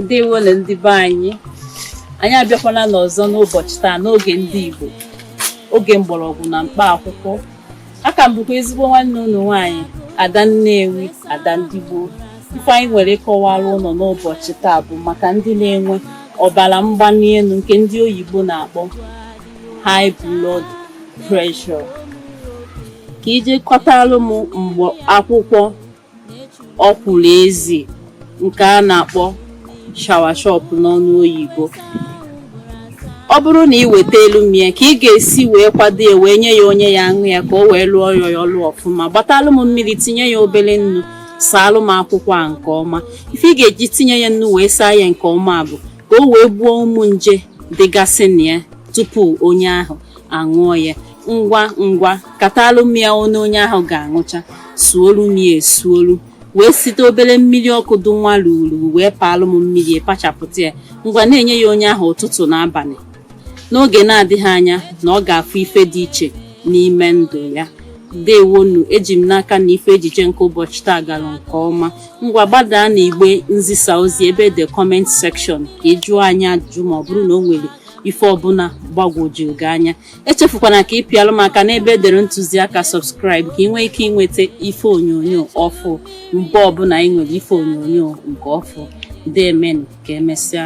ndewonu ndị be anyị anyị abịakwana n'ọzọ n'ụbọchị taa n'oge ndị Igbo oge mgbọrọgwụ na mkpa akwụkwọ a ka m bụkwa ezigbo nwanne unu nwaanyị ada nnewi ada ndị Igbo ife anyị nwere ịkọwara unu n'ụbọchị taa bụ maka ndị na-enwe ọbara mgbali elu nke ndị oyibo na-akpọ high blood pressure ka ị je kọtalụ m mkpa akwụkwọ ọkwụrụ ezi nke a na-akpọ soursop n'ọnụ oyibo ọ bụrụ na ị wetalụ m ya ka ị ga-esi wee kwado ya wee nye ya onye ya aṅụ ya ka o wee lụọ ya ya ọlụ ọfụma gbatalụ m mmiri tinye ya obere nnu saalụ m akwụkwọ a nke ọma ife ị ga-eji tinye ya nnu wee saa ya nke ọma bụ ka o wee gbuo ụmụ nje dịgasị na ya tupu onye ahụ aṅụọ ya ngwa ngwa katalụ m ya one onye ahụ ga-aṅụcha suolu m ya esuolu wee site obere mmiri ọkụ dụ nwa ruru wee paalụ m mmiri pachapụta ya ngwa na-enye ya onye ahụ ụtụtụ na abalị n'oge na-adịghị anya na ọ ga-afụ ife dị iche n'ime ndụ ya ndewonu eji m n'aka na ife ejije nke ụbọchị taa gara nke ọma ngwa gbadaa na igbe nzisa ozi ebe the comment section ka ị jụọ anyị ajụjụ ma ọ bụrụ na o nwere ife ọbụla gbagwojuru gị anya echefukwana ka ị pịalụ m aka n'ebe edere ntụziaka subscribe ka ị nwee ike inweta ife onyonyo ọfụ mgbe ọbụla ị nwere ife onyonyo nke ọfụ deemenụ ka emesịa